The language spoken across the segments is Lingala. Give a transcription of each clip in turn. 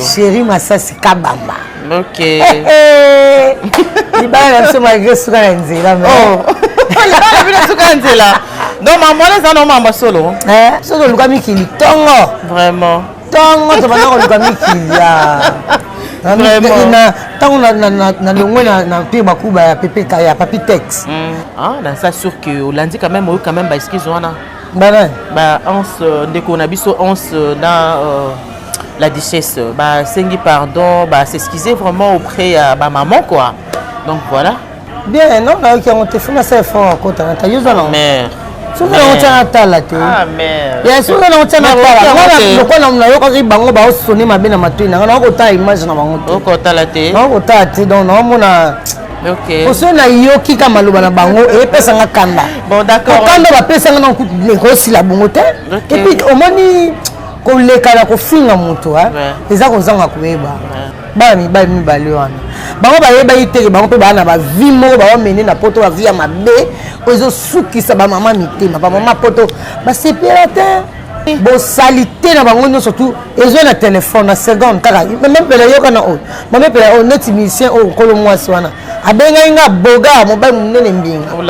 chéri masasi kabamba okay. hey, hey. libala na biso malgré suka na nzela oh. libala na bino suka na nzela donc mambo wana eza na mambo solo eh, soki oluka mikili tongo vraiment tongo tobanda koluka mikili ntango nalongwe na mpire makuba ya pepe ya papi tex na sa sur que olandi quand même oyo quand même baeskise wana ba nani ba ans euh, ndeko na biso ans euh, na euh, la duchesse basengi pardon basexcuse vraiment auprès ya bamaman quoi donc voilà bien non nayoki yango te funa sa effort akota na tayoza nango soki nango tia natala te ya soki nango tia natalaokola nayokaki bango baosone mabe na matoi na ngai nakokotala image na bango te nakokotala te donc naomona Okay. Oso na yoki ka maloba na bango e pesa nga kanda. Bon d'accord. Kanda ba pesa nga na ko ko sila bongo te. Okay. Et puis omoni ko leka na ko finga moto hein. Eza ko zanga ko yeba. Bana mi ba mi ba le wana. Bango ba yeba iteke bango pe ba na ba vie mo ba mene na poto ba vie ya mabe. Ozo sukisa ba mama mitema. Ba mama poto ba sepela te. bosalite na bango nyonso tu ezwa na telefone na seconde kaka mamepela yoka na oyo mamepela oyo neti musicien oyo nkolo mwasi wana abengaki nga boga mobali monene mbinga oh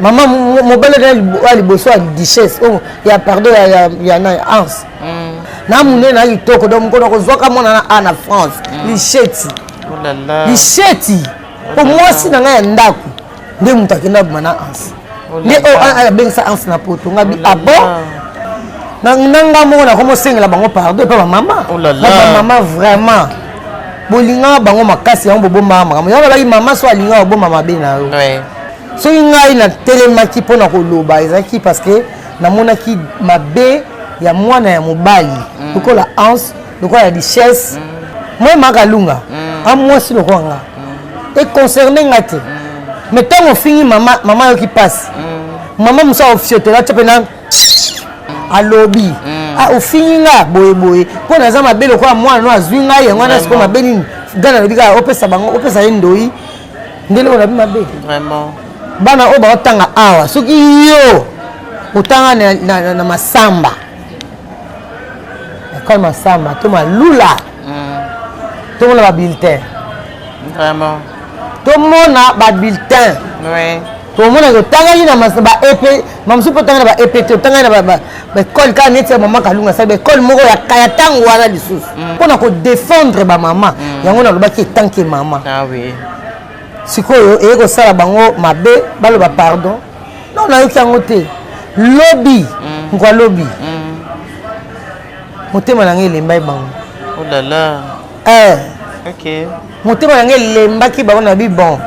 mama mobali ya liboso ya duchesse oyo oh, ya pardon ya na anse mm. na monene na kitoko donc mokolo kozwaka mwana na a na france mm. lisheti oh lisheti mpo oh mwasi na ngai ya ndako nde moto akenda abima na anse oh, nde oyo oh, abengisa ah, ah, anse na poto ngabi oh, abo na nga moko nakomi osengela bango pardon epa bamama bamama vraiment bolingaka bango makasi yango bobombaka makambo yango alaki mama so alingaka obomba mabe na yo soki ngai natelemaki mpo na koloba ezalaki parce que namonaki mabe ya mwana ya mobali mm. lokola anse lokola richesse moi makalunga mm. a mwasi lokola nga mm. econcerne nga te mm. mais ntango ofingi mama mama ayoki mpasi mama mosu aofiotola tyo mpena alobi ah, ofingi nga boyeboye mpo naza mabe lokola mwana no azwi ngai yango wana sikoyo mabe nini gana alobi kaka opesa bango opesa ye ndoi ndele oyo nabi mabe bana oyo baotanga awa soki yo otanga na masamba ekole masamba to malula mm. tomona babulletin vraiment tomona babulletin oui. tomona otangaki na baepe mamosusu mpo otangaki na baept otangaki na baekole kaka neti ya mama kalunga asali baekole moko ya kaya ntango wana lisusu mm. mpo na kodefendre bamama mm. yango nalobaki etanke mama ah sikoyo eye kosala bango mabe baloba pardon non nayoki yango te lobi mm. nkwa lobi mm. motema na ngai elembai bango olala oh eh. okay. motema na ngai elembaki bango na bi bon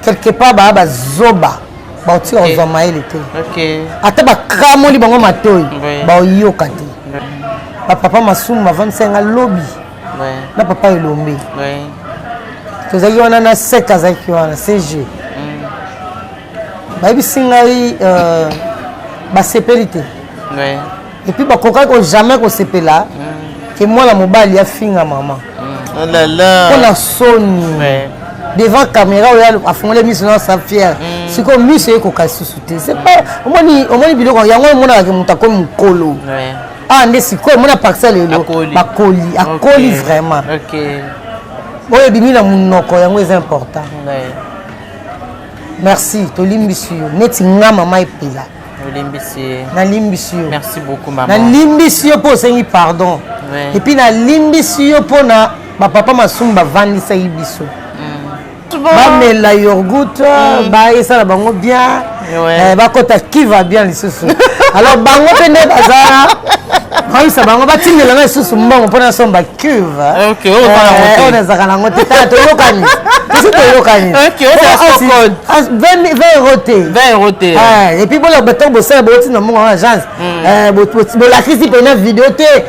quelque part baa bazoba baotika okay. kozwa mayele te okay. ata bakamoli bango matoi baoyoka te bapapa masumu bavandisa yanga lobi na papa elombe tozalaki wana na sek azalaki wana cg mm. bayebisi ngai euh, basepeli te epuis bakokaki ko jamais kosepela mm. ke mwana mobali afinga mama mm. oh mpo na soni devant caméra oyo afungoli miso na sa fiere mm. sikoyo miso ekoka lisusu te omoni biloko yango omonaka ke moto akomi mokolo awa ah, nde sikoyo mona parcel lelo bakoli akoli vraiment oyo ebimi na monoko yango eza important merci tolimbisi yo neti nga mama epela nalimbisi yo nalimbisi yo mpo osengi pardon epuis nalimbisi yo mpo na bapapa masumu bavandisaki biso bamela yorgout mm. baesala bango bien eh, bakota kiva bien lisusu alors bango mpe nde baza bayisa bango batindela nga lisusu mbongo mpo nasomba cuve oyo nazalaka nango te tala toyokani tosi toyokani 20 euro te epuis bolobata bosala bouti na mbongo ya agence bolakisi mpena video te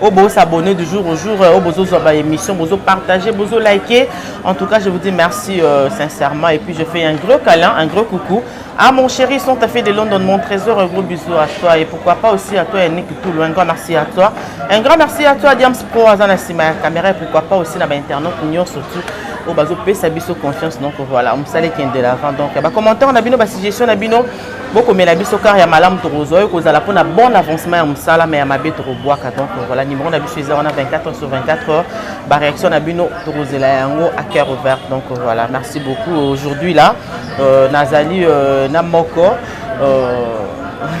oyo oh, bosabonne du jour au jour oyo oh, bozozwa baémission bozopartage bozolike en tout cas je vous dis merci euh, sincèrement et puis je fais un gros câlin un gros coucou à mon chéri sont à fait de london mon trésor un gros bisou à toi et pourquoi pas aussi à toi yannick toulou un grand merci à toi un grand merci à toi diams pro aza na nsima ya caméra et pourquoi pas aussi na bainternaute nyonso tu oyo bazopesa biso confiance donc voilà mosala ekende de l'avant donc bacommentaire na bino basuggestion na bino bokomela biso kar ya malamu tokozwa oyo ekozala mpona bon avancement ya mosala ma ya mabe tokobwaka donc voilà numéro na biso eza wana 24 heures sur 24 heures baréaction na bino tokozela yango à cœur ouvert donc voilà merci beaucoup aujourd'hui là euh, nazali euh, na moko euh,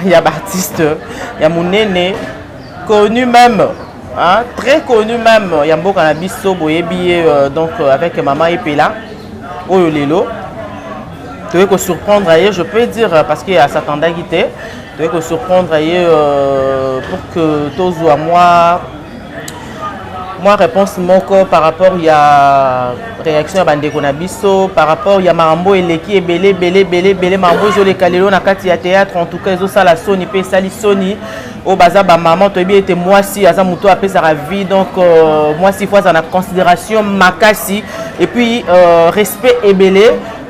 ya baartiste ya monene connu même hein, très connu même ya mboka na biso boyebi ye euh, donc euh, avec mama epela oyo lelo toye ko surprendre ye je peux dire parce que ya s'attendaki te toye ko surprendre ye euh, pour que tozwa mwa mwa réponse moko par rapport ya réaction ya bandeko na biso par rapport ya makambo eleki ebele ebele ebele ebele makambo ezoleka lelo na kati ya théâtre en tout cas ezosala soni mpe esali soni oyo baza bamama toyebi ete mwasi aza moto oyo apesaka vie donc euh, mwasi ifo aza na considération makasi et puis euh, respect ebele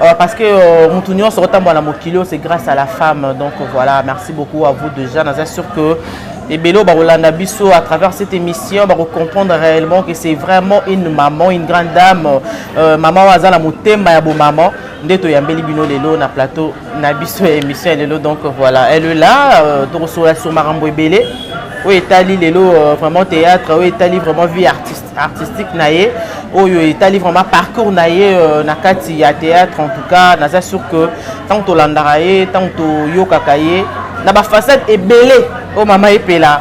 euh, parce que euh, motu nyonso otambola na mokili oyo c'est grâce à la femme donc voilà merci beaucoup à vous déjà naza sûr que ebele oyo bakolanda biso à travers cette émission bakocomprendre réellement que c'est vraiment une maman une grande dame euh, maman oyo aza na motema ya bomama nde toyambeli bino lelo na plateau na biso ya émission ya lelo donc voilà elle est là euh, tokosola sur makambo ebele oyo etali lelo euh, vraiment théâtre oyo etali vraiment vie artiste, artistique na ye oyo etali vraiment parcours na ye euh, na kati ya théâtre en tout cas naza sûr que ntango tolandaka ye ntango toyokaka ye na bafasade ebele oyo mama epela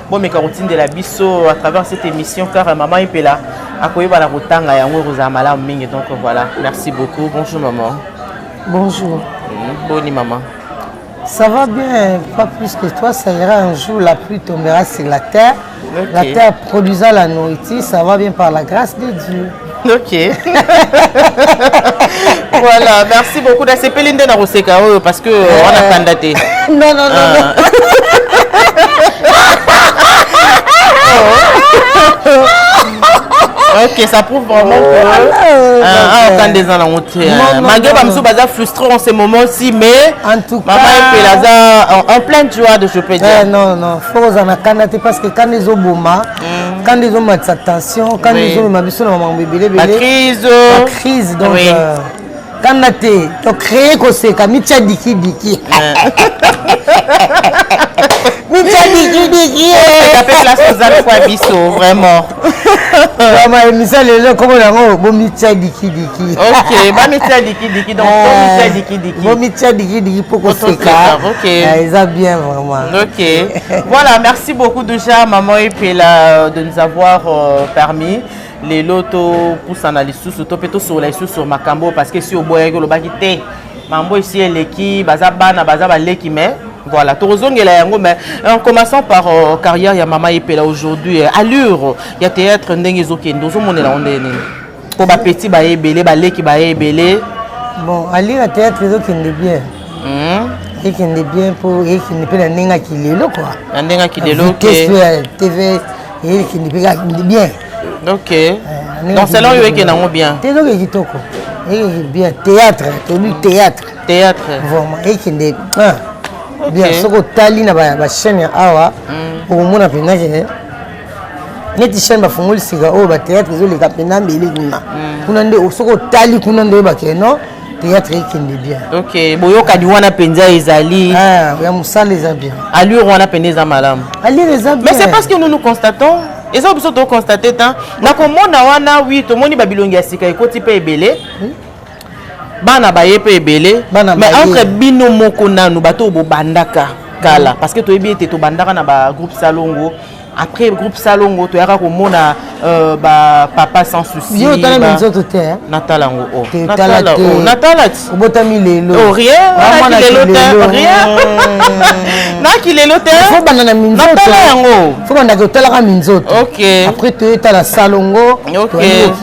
bomeka kotindela biso à travers cette émission car euh, maman epela akoyeba na kotanga yango ekozala malamu mingi donc euh, voilà merci beaucoup bonjour maman bonjour mm, boni maman Ça va bien, pas plus que toi. Ça ira un jour, la pluie tombera sur la terre. Okay. La terre produisant la nourriture, ça va bien par la grâce de Dieu. ok voilà merci beaucoup nasepeli nde na koseka oyo parce que euh, wana kanda te non non non ah. ok ça prouve vraiment oh, que euh, ah, ah, quand des ans nango te malgré bamosusu baza frustré en ce moment ci mais mama epele aza en pleine joie de je peux dire eh, non non fo kozala na kanda te parce que kanda ezoboma mm. kanda ezomatisa tension kanda ezomema biso na makambo ebelebelebacrise donc oui. euh, kanda te tocree koseka mitya dikidiki mitya dikidiki ozalikwa biso vraiment vraiment émission lelo nkombo yango bomitya dikidiki ok bamitya dikidiki donc bomitya dikidiki mpo koseka eza bien vraiment Ok. voilà, merci beaucoup déjà, maman Epela, de nous avoir euh, permis. lelo topusana lisusu to mpe tosolola lisusu sur makambo parce que si oboyaki olobaki te mambo esi eleki baza bana baza baleki mais voilà tokozongela yango mais en commençant par euh, carrière ya mama epela aujourd'hui euh, allure ya théâtre ndenge ezokende ozomonela yango ndenge nini po ba petit ba ebele ba leki ba ebele bon alira théâtre ezokende bien hmm? ekende bien po ekende mpe na ndenge akilelo kua na ndenge akilelo tv ekende mpe kakende bien ok eh, donc selon yo ekende yango bien te ezoke kitoko ekende bien théâtre tobi théâtre théâtre vraiment ekende ah, bien soki otali na bachaîne ya awa hmm. okomona mpenza ke neti chaine bafungoli sika oyo batheatre ezoleka mpenza mbele kuna mm. kuna nde soki otali kuna nde oyebake non théâtre ekende bien ok boyokani wana mpenza ezali ya ah, mosala eza bien allure wana mpenza eza malamu allure eza bien mais c'est parce que nous nous constatons eza oyo biso tokonstate ta na komona wana wi tomoni babilongi ya sika ekoti mpe ebele hmm? bana baye mpe ebele mais entre bino moko nanu bato oyo bobandaka kala mm. parce que toyebi ete tobandaka na bagroupe salongo après groupe salongo toyaka komona euh, bapapa sans souciotala nzoto te natala yango o oh. natala ti oh, obotami lelo oh, rien lelo te rien naki lelo te fobanda na minzototala yango fobandaka otalaka minzoto ok après toyetala salongo ok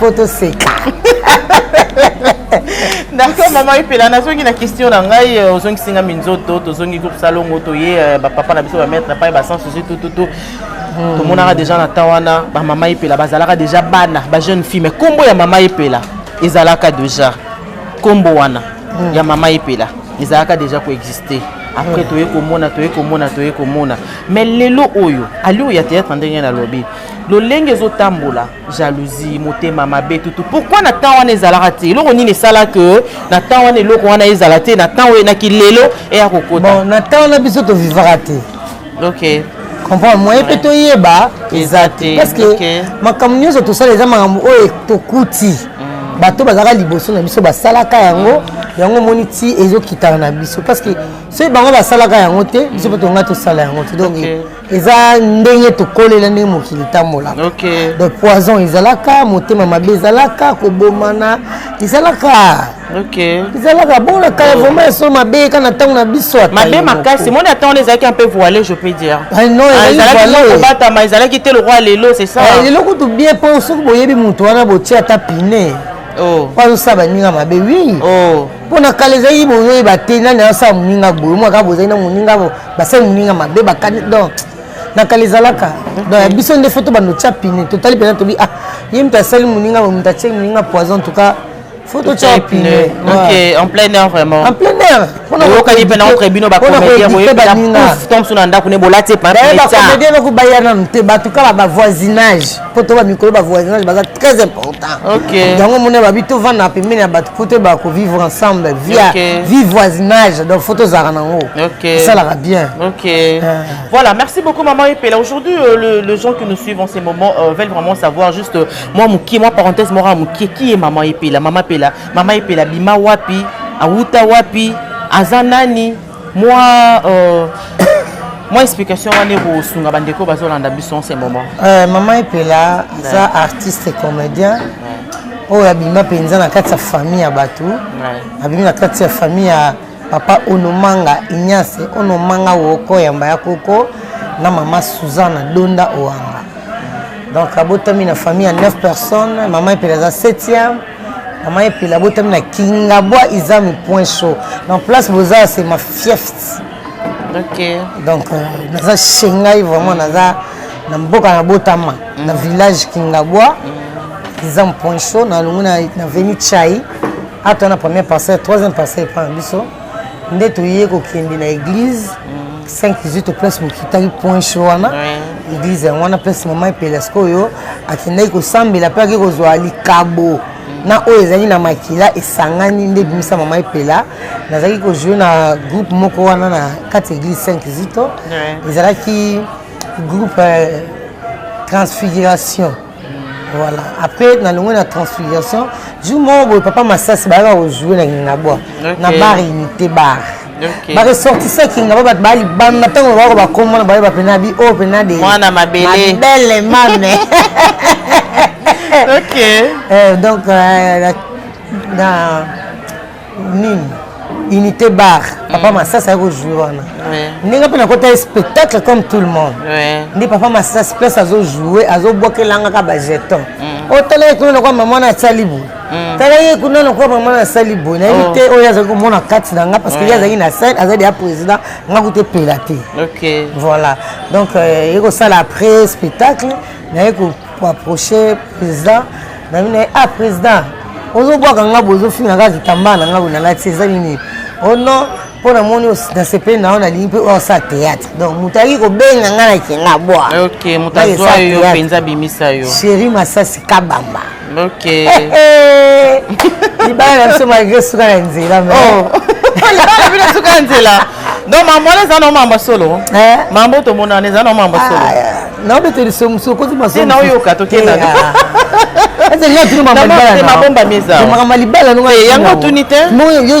po toseka d'accord mama epela nazongi na question na ngai euh, ozongisi nga minzoto tozongi groupe salongo toye euh, bapapa na biso bamaître na pai basan susi tututu hmm. tomonaka déjà na temps wana bamama epela bazalaka déjà bana bajeune fille mais nkombo ya mama epela ezalaka déjà nkombo wana hmm. ya mama epela ezalaka déjà koexiste après toye komona toye komona toye komona mais lelo oyo alio ya théâtre ndenge nalobi lolenge ezotambola jalousie motema mabe tutu pourquoi na temps wana ezalaka te eloko nini esala que na temps wana eloko wana ezala te na temps oyo na kilelo eya kokota bon, na temps wana biso tovivaka te ok comprendre moyen mpe toyeba eza te parce que okay. makambo nyonso tosala eza makambo oyo tokuti mm. bato bazalaka liboso na biso basalaka yango yango omoni ti ezokitana na biso parce que soki bango basalaka yango te biso mpe tonga tosala yango te donc okay. eza ndenge tokolela ndenge mokili tambola okay. de poison ezalaka motema mabe ezalaka kobomana ezalaka okay. ezalaka bona kala oh. vraimen eso mabe eka na ntango na biso mabe makasi moni ata wana ezalaki un peu voile je peux dire ah, ah, kobatama ezalaki te lokwa lelo c'est ça eh, lelo kutu bien mpo soki boyebi moto wana botie ata pine oh. mpo azosala baninga mabe wi oh. mpo na kala ezalaki bozoyeba te nani asala moninga boye mwaka bozali na moninga basali moninga mabe bakani donc na kala ezalaka donc ya biso nde fo tobanda otya pine totali mpenza tobi ah ye moto asali moninga moto atie moninga poison en tout cas faut totya pine en plein air vraiment en plein air oyokani mpe na entre bino bacomédien boyebaningatomsu na ndako ne bolati epabacomédien noko baya nanu te bato kaka bavoisinage mpo to bamikolo bavoisinage baza très important yango mona babi tovanda pembeni ya bato mpo toyeba kovivre ensemble via vie voisinage donc fo tozalaka nango esalaka bien euh. voilà merci beaucoup maman epela aujourd'hui euh, le, le gens qui nous suivent en ces moments euh, veulent vraiment savoir juste euh, moi mokie moi parenthèse mora mokie qui est maman epela maman epela maman epela bima wapi awuta wapi aza nani mwa euh, mwa explication wana ekosunga bandeko bazolanda biso en ce moment euh, mama epela aza artiste comédien oyo abima mpenza na kati ya famille ya bato abimi na kati ya famille ya papa onomanga ignace onomanga woko yamba ya koko na mama suzana donda oanga donc abotami na famille ya 9 personnes mama epela aza 7e Maman Epela botami na Kingabwa izami point chaud. En place boza c'est ma fiefs. OK. Donc euh, naza shengai vraiment naza na mboka na botama mm. na village Kingabwa mm. izami point chaud na lungu na na venu chai. Ata na première parcelle, troisième parcelle pas biso. nde toye kokende na église 518 place mokitaki point cho wana église yango wana place mama epela sikoyo akendaki kosambela mpe ake kozwa likabo na oyo ezali na makila esangani nde ebimisa mama epela nazalaki kojoue na groupe moko wana na kati ya église 5 zito ezalaki groupe euh, transfiguration voilà après nalongwe na transfiguration jour moko boye papa masasi bayaka kojoue na kingabwa na bar unité bar baresortisa kingaba bato baya libanda ntango lobako bakomona baye bapena bi oyo oh, pena de mwana mabele mame ok euh, donc euh, na nini unité bar papa mm. masasi aye kozwi wana ndenge mpe nakota ye spectacle comme tout le monde nde papa masasi place azojoue azobwakelangaka bajeton mm. otala ye kuna nakwa mama na asali boye mm. tala ye kuna nakwa mama na asali boye nayebi oh. te oyo azali komona kati na nga parce que ye azalaki na scène azali deya président nga kuta epela te voilà donc euh, ye kosala après spectacle naye ko approcher président na bino ah président ozobwaka nga bozofinga kaka kitambaa na nga bonalati eza nini o oh non mpo namoni nasepeli na yo nalingi mpe oyo osala théâtre donc moto ayaki kobenga nga na kenga bwa ok moto azwa yo mpenza abimisa yo chéri masasi kabamba ok libala na biso malgré suka na nzela mais oh. libala bino suka na nzela donc mambo wana eza na mambo solo eh? mambo tomonana eza na mambo solo ah, naobeteli sokozi masoyoka tokenamabomba mizamakambo libala yango otuni te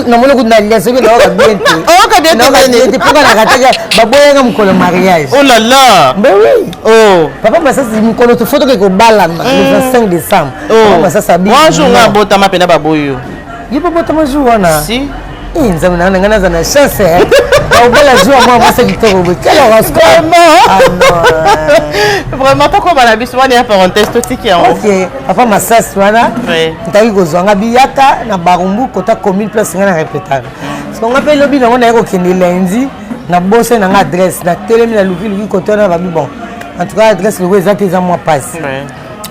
namoni kutu nalia soki naoka bien te oyoka bien te mpoka nakataka baboyanga mokolo mariage olala ben oui oh. papa masasi mokolo tofo toke kobalana mm. le 25 décembre oh. papa masasi abinjour nga abotama mpena baboyo ye babotama jour wana si Eh, nzambe na ngai naza na chance eh. obala jour mwa mwasi kitoko boye quel horoscope ah, eh. vraiment tokoba na biso wana ya parenthèse totiki yango ok papa masasi wana ntaki kozwa nga biyaka na barumbu kota commune place ngai na repetaka soko nga mpe lobi nango naye kokende lundi na bose na nga adresse natelemi na lukiluki kote wana babi bon en tout cas adresse logo eza te eza mwa pasi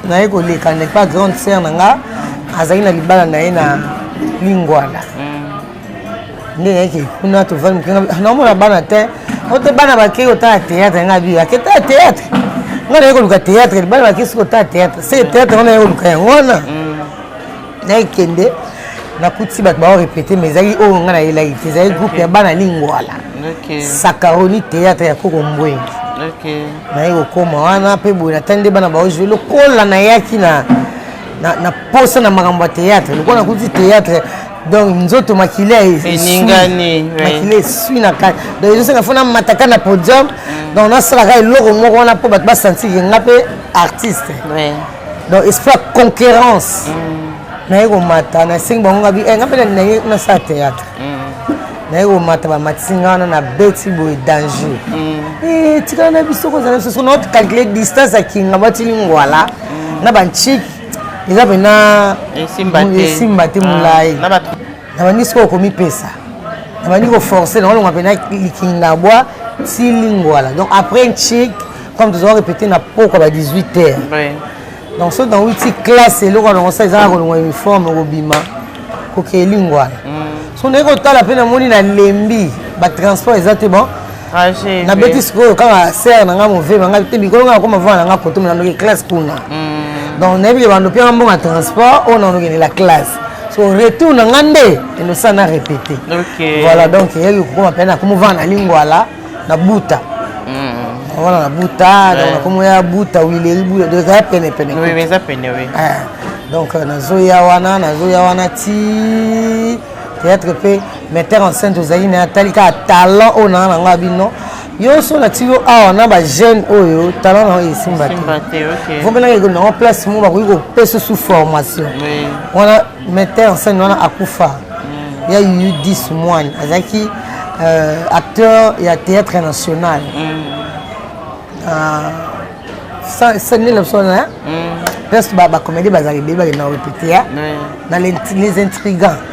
naye koleka n'est pas grande sœur na nga azali na libala na ye na lingwala nde nayeke kuna tovandi mokenga naomona bana te ote bana bakei kotala théâtre nga bi ake tala théâtre nga naye koluka théâtre bana bakei soki kotala théâtre se théâtre nga naye koluka yango wana mm. nakende nakuti bato bao repete ma ezalaki oyo ngai nayelaki te ezalaki groupe ya bana lingwala sakaroni théâtre ya koko mbwengi naye kokoma wana mpe boye natani nde bana bao jue lokola nayaki na na posa na makambo ya théâtre lokola nakuti théâtre donc nzoto makila eningani makila esui na kati donc ezosenga fo namataka na podium mm. donc nasalaka eloko moko wana mpo bato basantikenge nga mpe artiste donc esprit ya conquérance mm. naye komata nasengi bango ngabi eh, nga mpe naye nasala théâtre mm. naye komata bamatisi nga wana na beti boye danger mm. eh, tikala na biso kozala biso sona calcule distance ya kinga batili ngwala na banchiki eza mpena esimba te molai ah, nabandi sikoyo komipesa nabandi koforce na olonga mpena likingabwa ti lingwala donc après nchik comme tozoa répété na pokwa ba 18 heures donc soki na witi classe eloko alongo sa ezaka kolongwa uniforme kobima kokee lingwala mm. so naye kotala mpe namoni nalembi batransport eza te bon Trajet. Na beti sikoyo kaka sœur na nga movema nga te bikolo nga koma vana nga koto na ndoki classe kuna. Hmm. Donc na yebi bando pia mbonga transport on en la classe. So retour na nga nde eno sana répéter. OK. Voilà donc yebi kokoma pena komo vana lingwala na buta. wana na buta donc nakomi ya buta wileri buta donc ezala pene pene oui mais eza pene oui donc nazoya wana nazoya wana ti théâtre mpe metteur en scène tozali na atali kaka talent oyo naa na ngai bino yo so olakisi yo awa na bajeune oyo talent na yo esimba te vomelaka ekomi nango place moko bakoki kopesa su formation wana metteur en scène wana akufa mm. ya yuyu 10 moine azalaki euh, acteur ya théâtre national mm. ah, sani na biso na place bacomédie bazalaka ebele bakenda korepete ya na les intrigants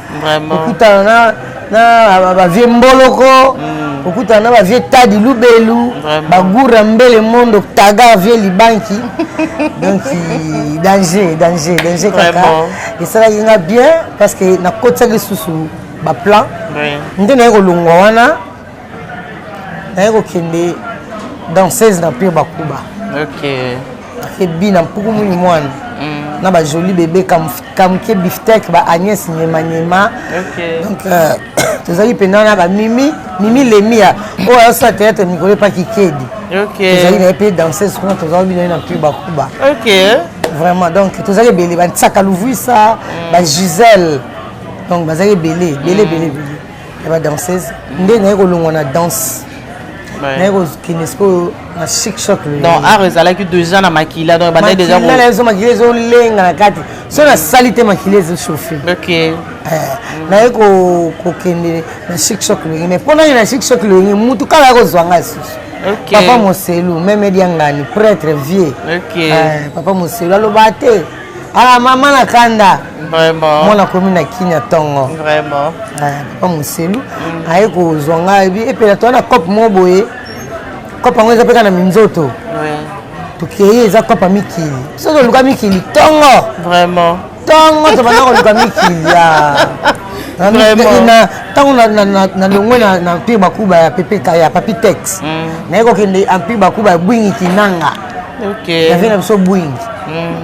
kokutana na na bavie mboloko mm. kokutana na bavie tadi lubelu bagura mbele mondo taga vie libanki donc danger danger danger kaka esalaki nga bien parce que nakotisaki lisusu baplan nde naye kolongwa wana naye kokende danseuse na pire bakuba okay. ebi na mpuku muni mwana mm. na bajoli bebe kamuke biftek ba agnès nyemanyema okay. donc euh, tozali mpenza na bamimi mimi lemia oyo ayosala théâtre mikolo epa kikedi okay. tozali naye mpe danseuse kuna tozali bino na mpuku bakuba okay. vraiment donc tozali ebele bantiaka luvuisa mm. bagisele donc bazali ebele ebele ebele ebele ya ba danseuse nde naye kolongwa na danse naye kokende sikoyo na chic choc donc art ezalaki déjà na makila donc ebandaki déjà makila ezo makila ezolenga na kati so nasali te makila ezochauffe ok eh, naye kokende na chic choc loyenge mais mpo nani na chic choc loyenge mutu kala ya kozwa ngai susu okay. papa moselu meme diangani prêtre vieux okay. eh, papa moselu aloba te Ah, mama na kanda vraiment mwana akomi na kinya ntongo vraiment ah, papa moselu mm. aye kozwa ngai bi epela toa na cope moko boye cope yango eza mpe kaka na minzoto tokei eza cope ya mikili so toluka mikili ntongo vraiment ntongo tobanda koluka mikili ntango nalongwe na empire bakuba ya papi tex mm. naye kokende empire bakuba ya bwingi kinanga okay. na vie na biso bwing mm.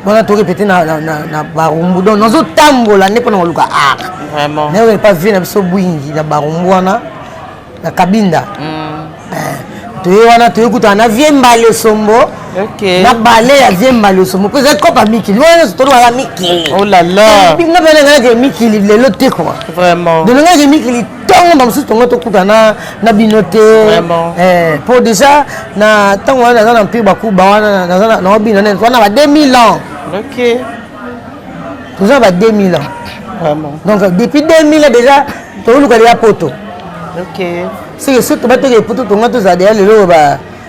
wana torepete na, na, na, na barumbu donc nazotambola nde mpona koluka art nayoka epa vie na biso bwingi na barumbu wana na kabinda mm. eh, toye wana toye kutana na vie mbali osombo okay. na bale ya vie mbali osombo mpo ezali kopa mikili wana nyonso tolobaka mikili oh nga mpenangalaki mikili lelo te kua donengaki mikili ntango na mosusu tongo tokutana na bino te eh, po déjà na ntango wana naza na mpe bakuba wana naza na obino nene wana ba 2000 ans toza na ba 2000 ans donc depuis 2000 ans déjà toluka deya poto seke soki tobatokee poto tonga tozala deya lelo ba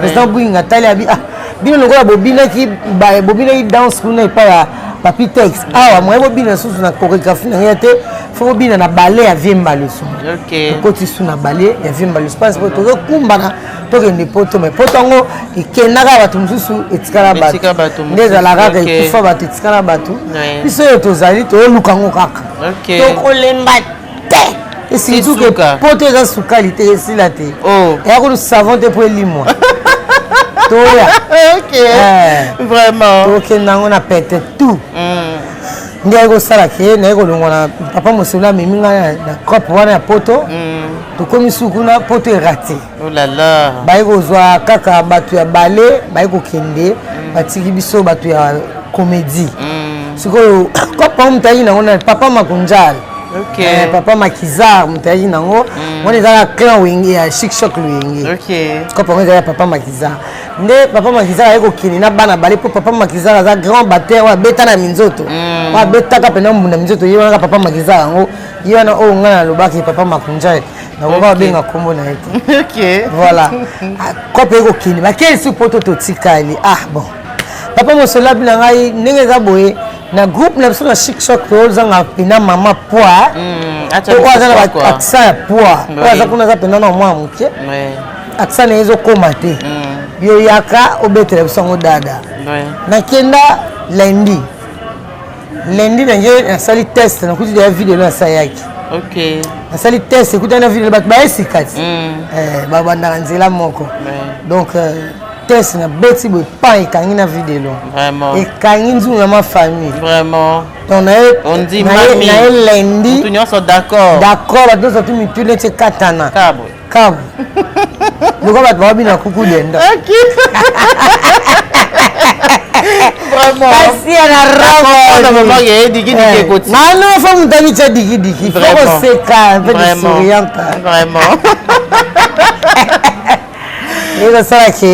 President Gwing atali abi ah bino lokola bobinaki bobinaki danse kuna epai ya papi tex awa moye bobina susu na chorégraphie na ngai te fo bobina na bale ya vie mbaleso okoti su na bale ya vie mbaleso parce que tozokumbana tokende poto mai poto yango ekendaka bato mosusu etikala bato nde ezalaka kaka ekufa bato etikala bato biso oyo tozali toyoluka yango kaka tokolemba esilizuke poto eza sukali te esila te oh. eya kutu savon te mpo elimwa toya eh. vraiment tokenda yango na pete tout mm. nde aye kosala ke naye kolongwa na papa mosolo amemi ngai na cope wana ya poto mm. tokomi sukuna poto erate olala oh baye kozwa kaka bato ya bale baye kokende mm. batiki biso bato ya komedi mm. sikoyo papa moto ayaki nango na papa makonjal okay. eh, papa makizar moto ayaki nango mm. wana eza na clan wenge ya shikshok loyenge okay. kopa yango eza ya papa makizar nde papa makizar ayaki kokende na bana bale mpo papa makizar aza grand bater oyo abeta na minzoto mm. oyo abetaka mpenza mbunda minzoto ye wanaka papa makizar yango ye wana oyo ngai nalobaki papa makonjal nakoka babenga nkombo na ye te voilà ah, kope ekokende bakelisi poto totikali ah bon papa mosolabi na ngai ndenge eza boye na groupe na biso na chic choc tozanga mpena mama poids hmm, oyo aza na accent ya poids oyo aza kuna aza mpena na mwa moke accent na ye ezokoma te hmm. yo yaka obetela biso yango dada nakenda lundi lundi na ngai nasali test nakuti deya video na sayaki nasali test ekutani na video bato baye sika ti mm. eh, babandaka nzela moko donc euh, test nabeti boye pan ekangi na video ekangi nzungu na ma famille donc naye lundi d'accord bato nyonso tu mituna ti ekatana kabu lokola bato babina kuku denda mano fo moto abitya dikidiki fo koseka mpe sourianta ekosala ke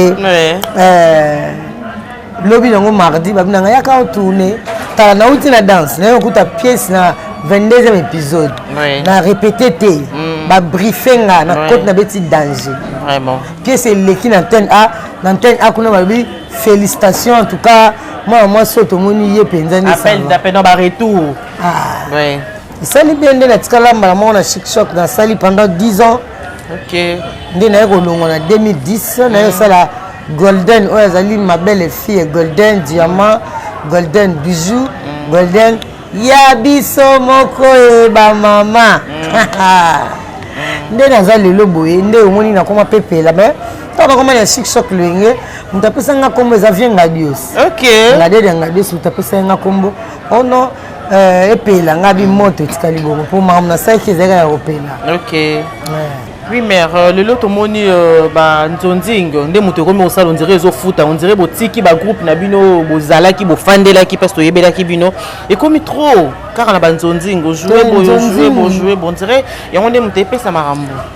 lobi nango mardi babi nanga yaka otourne tala nauti na danse naye okuta pièce na 22e épisode oui. na répété te mm. babriefe nga na oui. kote na beti danger Vraiment. pièce eleki na antenne a na antenne a kuna balobi félicitation en tout cas mwana mwasi oyo tomoni ye mpenza ndeappel d'appel na baretour ah. oui. esali bien nde natikala mbala moko na chic choc nasali pendant 10 ans okay. nde naye kolongwa na 2010 naye osala mm. golden oyo azali ma belle fille golden diamant golden bijou mm. golden ya biso moko ye bamama mm. nde naza lelo boye nde omoni nakoma pepela me ntango nakoma na chic choc loyenge moto apesanga nkombo eza vie ngadios okay. ngadiede ngadios moto apesanga nkombo ono oh Euh, epela nga bimoto etikali bongo mpo makambo nasalaki ezalaki ya kopela ok oui mère euh, lelo tomoni euh, banzonzing nde moto ekomi kosala ondire ezofuta ondire botiki bagroupe na bino bozalaki bofandelaki mpasi toyebelaki bino ekomi trop kaka na banzonzing ojoue boye ojoue bojoue bondire yango nde moto epesa makambo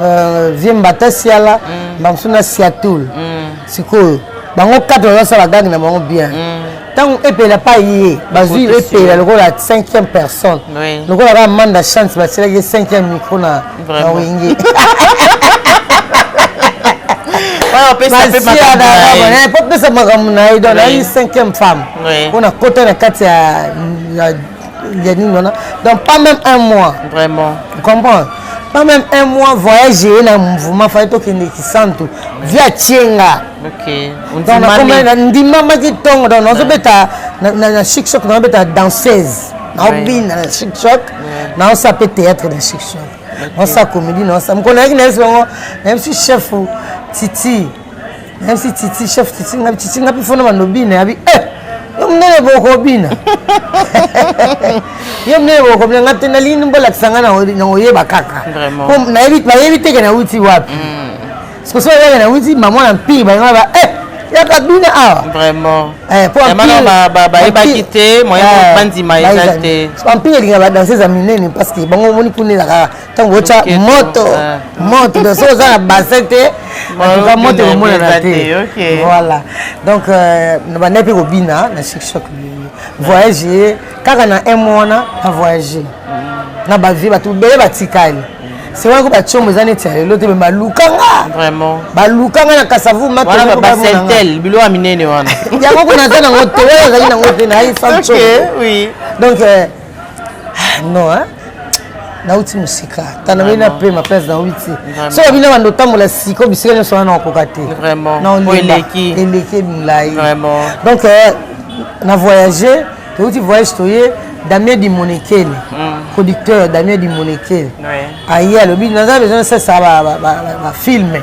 Euh, vie mbata siala mm. bamosusu na siatul mm. sikoyo bango kate bazosala gange na bango bien ntango mm. epela pa ye bazwi epela lokola cinquième personne lokola kaka manda chance basilaki cinquième micro na wenge popesa makambo na ye donc nayi cinquième femme mpo na kota na kati ya ya nini wana donc pas même un mois vraiment comprendre pas même un mois voyage eye na mouvement fai tokende kisantu vi atie nga ndimamaki ntongo donc nazobeta na chic choc nazobeta danseuse naobina na chic choc naosa mpe théâtre na chic choc naosa comédie naosa mokolo nayaki nayebisi bango nayebisi chef titi nayebisi titi chef titi ngabi titi ngabi fona bandobina yabi eh, yo monene bokobina yo monene bokobina nga te nalingi bolakisa nga nakoyeba kaka bayebi teke nauti wapi mm. soso oyaka nauti mama na mpii balinga ba eh, yaka bina awa vraimentbayebaki eh, te moyen bandima eza te bampii elinga badanse eza minene parce que bango omoni kuna elaka ntango otya moto moto donc soki oza na bassin te antuka moto ekomonana te voilà donc euh, na bandai mpe kobina na shikshok voyage ye kaka na m wana na voyage mm. na bavie bato bele batikali c'est vrai ko batiombo eza neti ya lelo te me balukanga vraiment balukanga na kasavu matobasentel biloko ya minene wana yango kuna aza nango te oyo azali nango te na ye sancho donc euh, non hein? nauti mosika tana bino na pema place naobi te so babino banda otambola siko bisika nyonso wana nakokoka te eleki milai donc euh, na voyage touti voyage toye damien dimonekele mm. producteur damien dimonekele aye alobi naza besoin sasa bafilme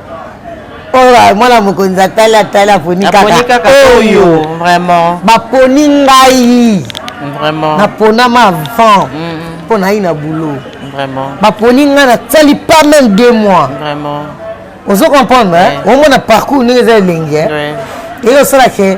oyo oh, mwana mokonzi atali atali aponi kaka oyo baponi ngai naponama avant mpo nayi na boulot baponi ngai nasali pas même deux mois ozo comprendre omona parcours ndenge eza elenge eye osalake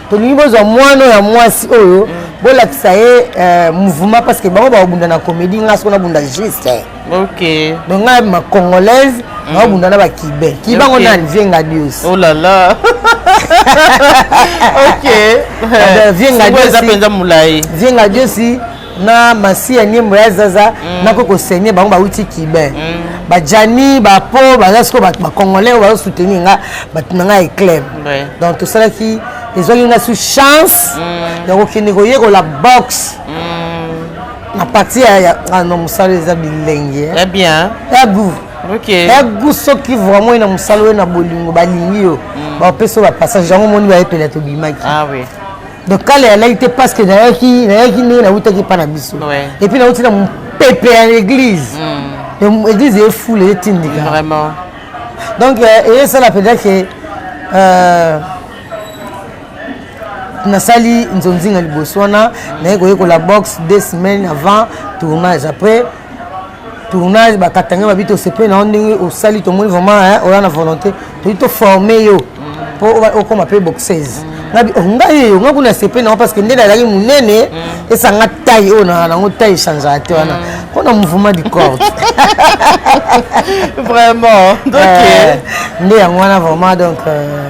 tolingi bozwa mwana ya mwasi oyo mm. bolakisa ye euh, mouvement parce que bango bakobunda na comédie ngai soko nabunda juste eh. ok donc ngai ma congolaise mm. nakobunda na bakibe kibe yango nani vie ngadios oh là là ok vie ngadios vie ngadios na masi ya nyembo ya zaza mm. nako kosenye bango bauti kibe mm. bajani bapo baza siko bacongolais oyo bazo soutenir nga bato na nga eclaim donc tosalaki ezwaki nga su chance mm. ya kokende koyekola boxe na parti ya mosala eza bilenge eh. bien ya gout ya gout soki vraiment oye na mosala oyo na bolingo balingi yo bapesa yo bapassage yango omoni bayepela tobimaki ah donc kala ya laki te parce que nayaki nayaki ndenge nawutaki epa na biso epuis nawuti na mopepe ya l'église hmm. église efula etindika vraiment donc euh, eyesala mpenza ke euh, nasali nzonzinga liboso wana naye koyekola boxe deux semaines avant tournage après tournage bakatanga babi tosepeli na yo ndenge osali tomoni vraiment oya na volonté toyi toforme yo mpo mm. okoma mpe boxeuse mm. ngabi oh, ngai eyo ngai kuna sepe nango parce que nde nazalaki monene mm. esanga tai oyo na nango tai echangeaka te wana mpo mm. na mouvement du corps vraiment donc euh, nde yango wana vraiment donc euh,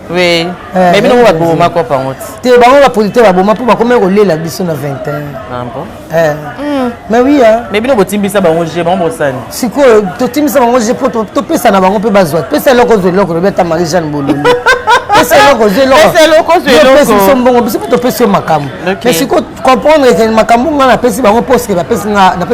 Oui. Eh, mais bino eh, baboma eh. kopa yango te te bango bapolitike baboma mpo bakomaki kolela biso na 21 ah hmm. mais oui mais bino botimbisa bango je bango bosani sikoyo totimbisa bango je mpo topesa na bango mpe bazwa pesa eloko ozwa eloko lobi ata marie jeanne bololi pesa eloko ozwa elokopesi biso mbongo biso mpe topesi yo makambo mais sikoyo comprendre ete makambo ngai napesi bango mposke napesi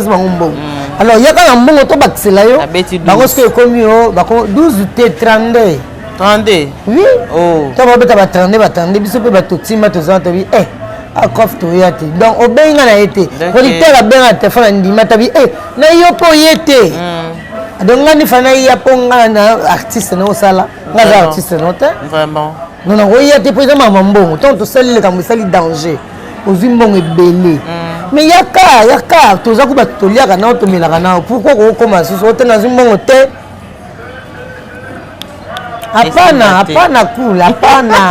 bango mbongo hmm. alors yaka na mbongo tobakisela yo bango soki ekomi yo 12 te 32 32 oui oh. ntango babeta ba 32 ba 32 biso mpe bato tima tozana tobi e akof toya te donc obengi nga na ye te producteur abenga na telefone andima tabi e na yo mpo ye te hmm. donc nga nifa naya mpo nga na artiste na osala nga aza artiste no te non nakoya te mpo eza mama mbongo ntango tosali likambo esali danger ozwi mbongo ebele hmm. mais yaka yaka toza ko bato toliaka nao tomelaka nao pourkoi kokokoma lisusu ote nazwi mbongo te Hapana, hapana cool, hapana.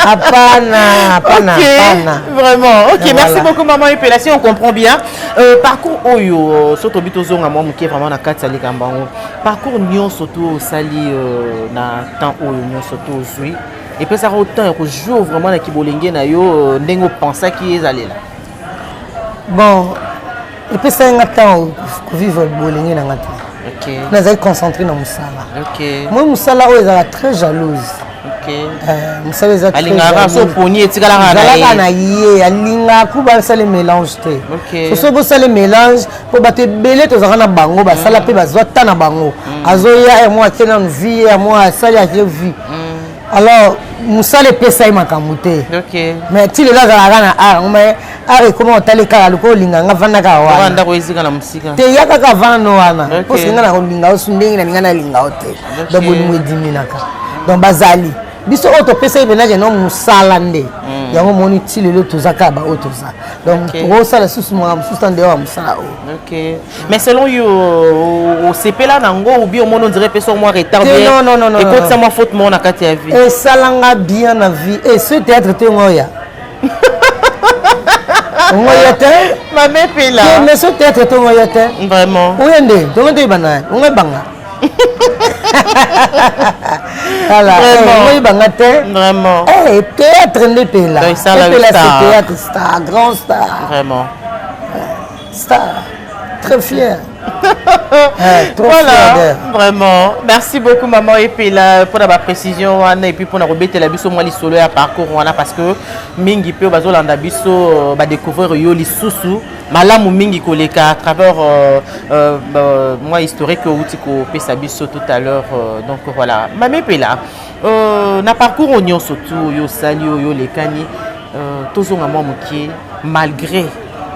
Hapana, hapana, okay. hapana. Vraiment. OK, voilà. merci beaucoup maman Epela, si on comprend bien. Euh, parcours oyo soki tobi tozonga mwa moke vraiment na kati ya likambo yango parcours nyonso to osali euh, na temps oyo nyonso to ozwi epesaka yo temps ya kojour vraiment na kibolenge na yo euh, ndenge opensaki ezalela bon epesaki nga ntango kovivre bolenge na nga te okay. nazali concentré na mosala okay. moi mosala oyo ezalaka très jalouse okay. uh, mosala eza alingaka so poni etikalaka na ye alingaka ku basala mélange te okay. so soki bosala mélange mpo bato ebele tozalaka na bango basala mpe mm. bazwa ta na bango mm. azoya ya mwa ake nanu vie ya mwa asali ake vie mm. alors mosala epesa ye makambo te mais ti lelo azalaka na art ngo mais art ekoma otali kaka lokola olinga nga vanda kaka wanate ya kaka vanda wana mposi nga na kolinga osu ndenge na linga nalinga o te donc bolingo ediminaka donc bazali biso oyo topesaki menage no mosala nde mm. yango omoni ti lelo toza kaka baoyo toza donc tokosala susu makambo mosusu ta ndeyo ya mosala oyo mais selon yo osepela na yango ou bien omoni ondire mpe so mwa retard ekotisa mwa faute moko na kati ya vie esalanga bien na vie e ce théâtre te ngoya ngoya te mame pela mais ce théâtre te ngoya te vraiment oye nde tongo toyeba naye ongo ebanga voilà oyeba nga te vraiment eh, théâtre nde pela epela ce théâtre star grand star vraiment Star, très fier. Eh, voilà, vraiment. Merci beaucoup, maman Epela, pour la précision. Et puis, pour la rebête, la biso, moi, les solo à parcours, voilà, parce que mingi peu, bazo, landa biso, euh, ba découvrir yo, les sousous, malamu mingi koleka à travers euh, euh, euh, moi historique au tiko pesa biso tout à l'heure euh, donc voilà mame pela euh, na parcours oignon surtout yo sali yo lekani euh, tozonga mwa mokie malgré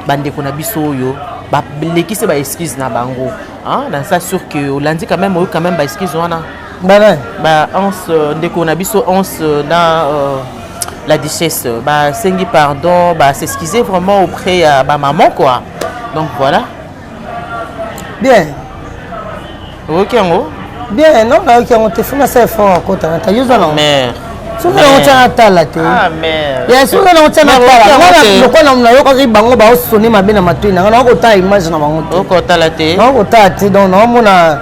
bandeko na biso oyo balekisi ba excuse na bango hein? na ça sur que olandi quand même oyo quand même ba excuse wana banani ba anse euh, ndeko na biso anse euh, na euh, la duchesse basengi pardon ba s'excuser vraiment auprès ya bamaman quoi donc voilà bien oyoki yango bien non nayoki yango te fo nasala effort akota na tayoza nango soki nango tya natala te ya soki nango tya natala ngana lokola nayokaki bango baosone mabe na matoi na ngai nakokotala image na bango te nakokotala te donc naomona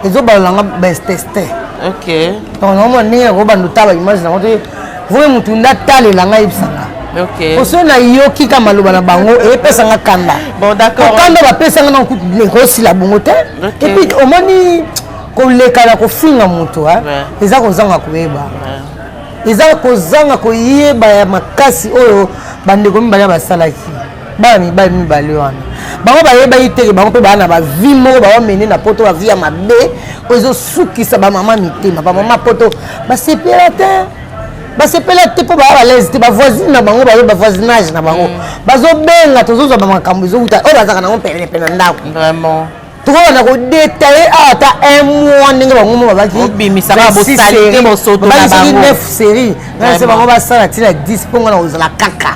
ezobala nanga besteste ok donc naomona ndenge nakobanda otala image nango te voi motu nde atalela ngai yebisanga po soki nayoki ka maloba na bango epesanga kanda okanda bapesanga na kutu ekosila bongo te epuis omoni koleka na kofinga motu eza kozanga koyeba eza kozanga koyeba ya makasi oyo bandeko mibale basalaki bana mibali mibale wana bango bayebaki teke bango mpe baa na bavie moko bawamene na poto bavie ya mabe oyo ezosukisa bamama mitema bamama poto basepela te basepela te mpo baya balaise te bavoisine na bango baye bavoisinage na bango mm. bazobenga tozozwa bamakambo ezowuta oyo bazalaka nango penepene na ndako tokoka na kodetaye awa ata un mois ndenge bango mo babakisoki neuf série nase bango basala ntina 10 mpo nga na kozala kaka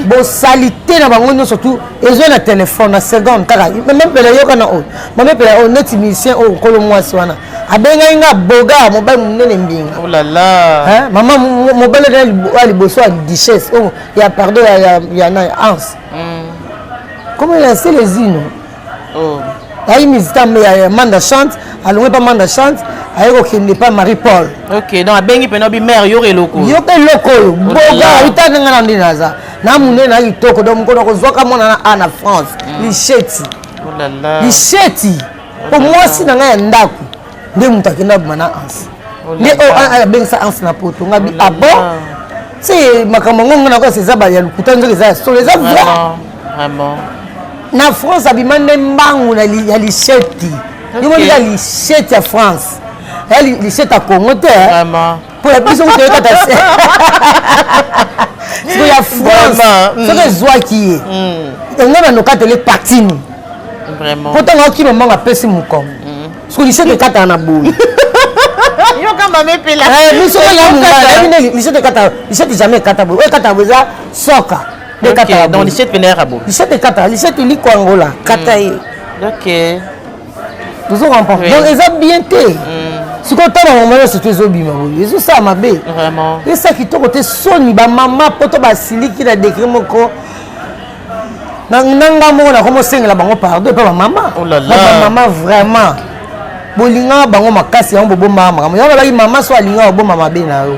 bosalite na bango nyonso tu ezwa na telefone na seconde kaka mamepela yoka na oyo mamepela oyo neti musicien oyo nkolo mwasi wana abengaki nga boga mobali monene mbinga oh mama mobali ya liboso ya duchesse oyo oh, ya pardon ya nani anse Comment il a laissé les îles oh. ayi mizita ya manda chante alongi epa manda chante aye kokende epa marie paul ok donc abengi mpena obi mare yoka eloko yoka eloko oyo boga ayitanga nga na nde naza na munene na kitoko donc mokolo kozwaka mwana na a na france mm. lisheti oh lisheti mpo mwasi na ngai ya ndako nde moto akenda abima na anse nde oyo abengisa anse na poto ngabi abo ah ti makambo yango ngai nakosa eza ya lokuta nzoki eza ya solo eza vrai na france abima nde mbangu ya lisheti yo moni ya lisheti ya france ya lisheti ya congo te mpo ya biso kutu oyekata se siko ya france mm. soki ezwaki ye mm. yango nanokatele patini mpo ntango akima mbango apesi mokongo mm. siko lisoko ekataka na boye biso lisoko ekataka lisoko jamais ekata boye oyo ekataka boye eza soka ekataka boye lisoko ekataka lisoko likwangola kata ye tozo comprendre donc eza bien te mm. sikoyo ntango yango mwana surtout ezobima boye ezosala mabe esa kitoko te soni bamama poto basiliki na degre moko na nga moko nakomosengela bango pardon epa bamama oh bamama vraiment bolingaka bango makasi yango bobombaka makambo yango balaki mama so alingaka obomba mabe na yo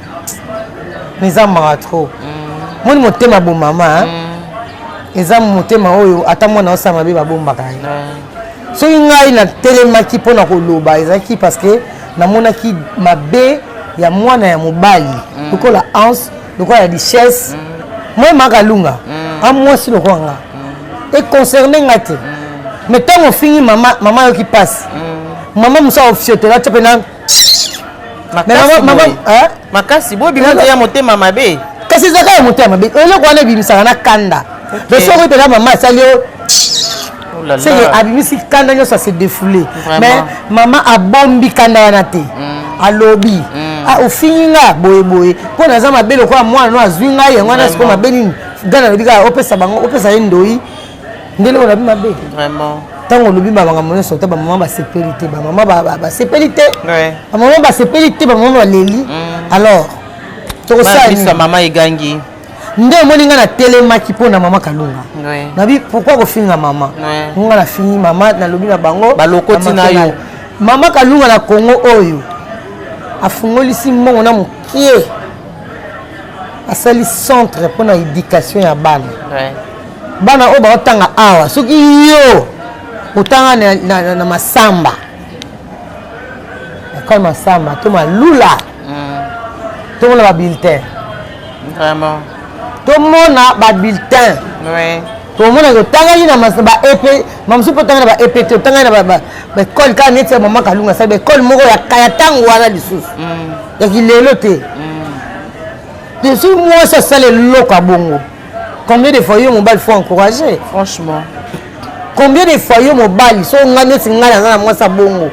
eza mawa trop mm. moni motema bo mama hein? mm. eza motema oyo ata mwana osala mabe babombaka ye mm. soki ngai natelemaki mpo na koloba ezalaki parce que namonaki mabe ya mwana ya mobali mm. lokola anse lokola ya richesse mm. moi makalunga mm. a mwasi lokola nga mm. econcerne nga te mm. mais ntango ofingi mama mama ayoki mpasi mm. mama mosu aofiotola tya mpe na makasi boye bima nde ya motema mabe kasi ezalaka ya motema mabe eloko wana ebimisaka na kanda mais soki mpena mama asali yo oh seke abimisi kanda nyonso ase defoule mais mama abombi kanda wana te mm. alobi mm. Ah, ofingi nga boyeboye mpo naza mabe lokola mwana no azwi ngai yango wana sikoyo mabe nini gana alobi kaka opesa bango opesa ye ndoi ndenge olobi mabe vraiment ntango olobi bamakambo nyonso ata bamama basepeli te bamama basepeli te bamama basepeli te bamama baleli mm. alors tokosala mama egangi nde omoni ngai natelemaki mpo na mama kalunga nabi pourkui kofinga mama ngai nafingi mama nalobi na bango balokoti na yo mama kalunga na kongo oyo afungolisi mbongo na mokie asali centre mpo na éducation ya bana bana oyo baotanga awa soki yo otanga na, na, na, na masamba ekole masamba to malula mm. tomona babulletin vraiment tomona babulletin oui. tomona totangaki na baepe mamosu mpe otangaki na baepe te otangaki na baekole kaka neti ya mama kalunga asali baekole moko ya ntango wana lisusu mm. ya kilelo te mm. soki mwasi asala eloko ya bongo combien de fois yo mobali faut encourager franchement combien de fois yo mobali so ngai neti ngai naza na mwasi ya bongo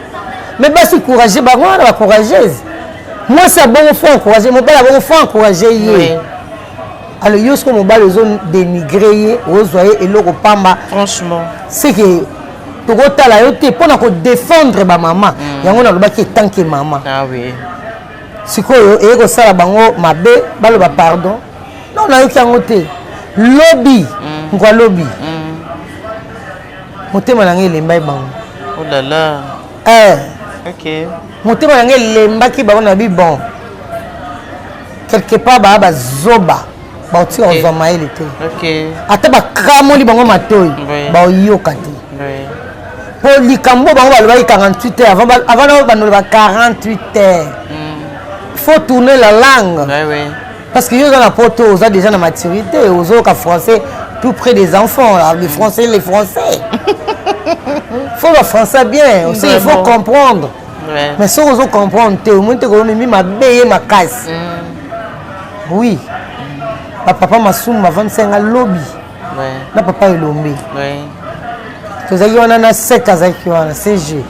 me basi courage bango wana bacourageuse mwasi ya bongo faut encourage mobali ya bongo faut encourage ye alors yo soko mobali ozo dénigre ye ozwa ye eloko pamba franchement seke tokotala yo te mpo na kodefendre bamama mm. yango nalobaki etanke mama ah, oui. sikoyo eye kosala bango mabe baloba pardon non nayoki yango te lobi mm. ngwa lobi mm. motema na ngai elembai bango olala oh eh. okay. motema na ngai elembaki bango na bi bon quelque part baa bazoba baotika okay. kozwa mayele te okay. ata bakramoli bango matoi oui. baoyoka te oui. po likambo bango balobaki 48 heures avant, avant nao bandola ba 48 heures mm. faut tourner la langue oui, oui. Parce que yo oza na poto oza déjà na maturité ozoyoka français tout près des enfants là, les français les français faut ba français bien aussi il faut comprendre ouais. mais soki ozo comprendre te omoni te kolomemi mabe ye makasi mm. oui bapapa masumu bavandisa yanga lobi ouais. na papa elombe ouais. tozalaki wana na 7 azalaki wana cg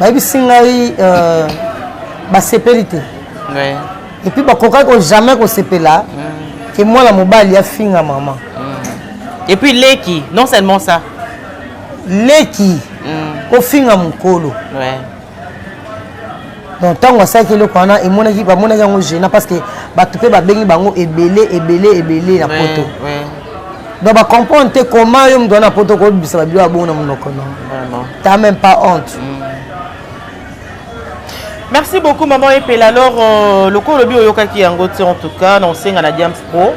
bayebisi ngai euh, basepeli te ouais. epuis bakokaki ko jamais kosepela mm. ke mwana mobali afinga mama mm. epuis leki non seulement ça leki mm. kofinga mokolo ouais. donc ntango asalaki eloko wana emonaki bamonaki yango gena parce que bato mpe babengi bango ebele ebele ebele na poto donc bacomprendre te comment yo moto wana na poto okobisa babilo ya bongo na monoko no ta même pas honte mm. merci beaucoup maman epela alors euh, lokola olobi oyokaki yango te en tout cas na osenga na diams pro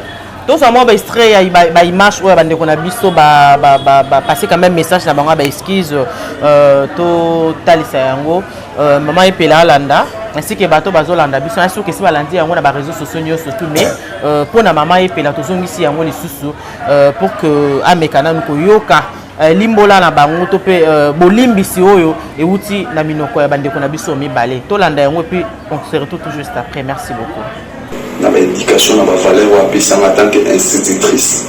tozwa mwa baextrait ya baimage oyo ya bandeko na biso bapase quand même message na bango ya baexcuse euh, totalisa yango Euh, mama epela alanda ainsi que bato bazolanda biso na soki esi balandi yango na bareseau sociaux nyonso tu mais euh, mpo na mama epela tozongisi yango lisusu euh, pour que ameka nanu koyoka limbola na bango to mpe bolimbisi oyo euti na minoko ya bandeko na biso mibale tolanda yango epuis on se retrouve tout juste après merci beaucoup na ba education na ba valeur oyo apesanga en tant que institutrice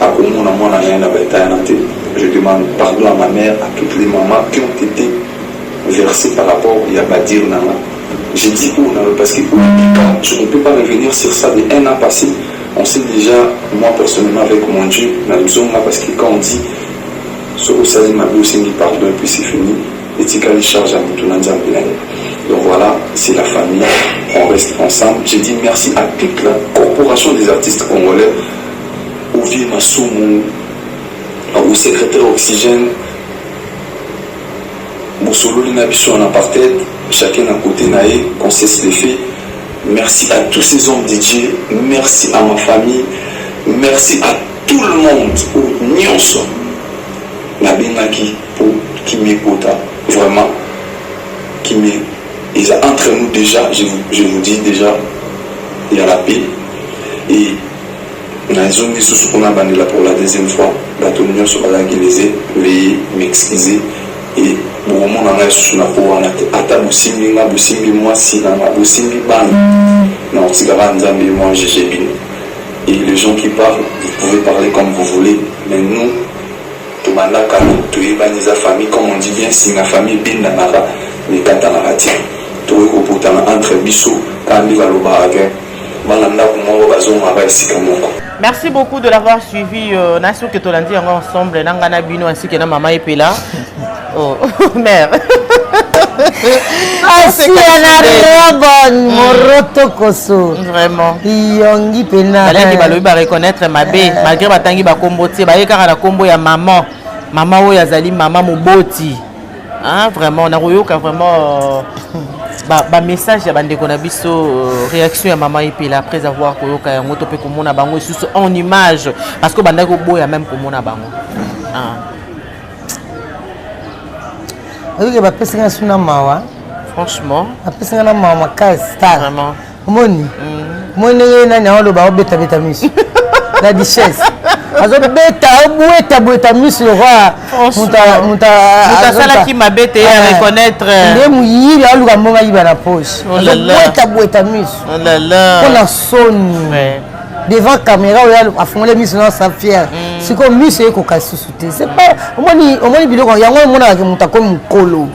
akomona mwana na ye na ba etayana te je demande pardon à ma mère à toutes les mamans qui ont été versées par rapport ya badir na nga je dis oyo na parce que oyo je ne peux pas revenir sur ça de un an passé on sait déjà moi personnellement avec mon dieu na lizonga parce que quand on dit soki osali mabe osengi pardon et puis c'est fini etikali charge ya mutu na nzambe na ye donc voila c'est la famille on reste ensemble je dis merci à toute la corporation des artistes congolais ovie masumu au secrétaire oxygène bosololi na biso en apartheid chacun na côté na ye qu'on cesse les faits merci à tous ces hommes de dieu merci à ma famille merci à tout le monde oyo nyonso nabengaki Po kimia ekota vraiment kimia eza entre nous dejà je vous je vous dis dejà ya la paix et na zongi susu po na bandela pour la deuxième fois bato nionso bazalaki lese veuillez m'excuser et bokomona ngai susu na po wana te ata bosimbi nga bosimbi muasi na nga bosimbi bana na kotika kaka nzambe ye mwa juge bino et les gens qui parlent vous pouvez parler comme vous voulez mais nous Tobanda kala toyebani eza famille comme on dit bien singa famille ebendanaka mais ekatanaka te tokoki kopotana entre biso kaka nde balobaka ke bana ndaku moko bazongaka esika moko. Merci beaucoup de l'avoir suivi euh, na suki tolandi yango ensemble na nga na bino ainsi que na mama epela Oh, mère. Asia na robon mm. moroto koso. Vraiment. Yongi pena. Balaki balobi ba reconnaître mabe eh. malgré batangi ba kombo tie baye kaka na kombo ya maman. Maman oyo azali maman moboti. Ah vraiment na koyoka vraiment ba, ba message ya bandeko na biso euh, réaction ya maman epela après avoir koyoka yango to mpe komona bango lisusu en image parce que bandaki koboya même komona bango ah. oyoki bapesi nga suna mawa franchement bapesi nga na mawa makasi star omoni mm. omoni ndenge nani aoloba obetabeta miso na duchesse azobeta obweta bweta miso lokola moto asalaki mabe te ya reconnaître nde moyibi aoluka mbongo ayiba na poche azobweta bweta miso mpo na soni devant caméra oyo afungoli miso na sa fière mm. sikoyo miso ekoka lisusu te c'est pas omoni omoni biloko yango omonaka moto akomi mokolo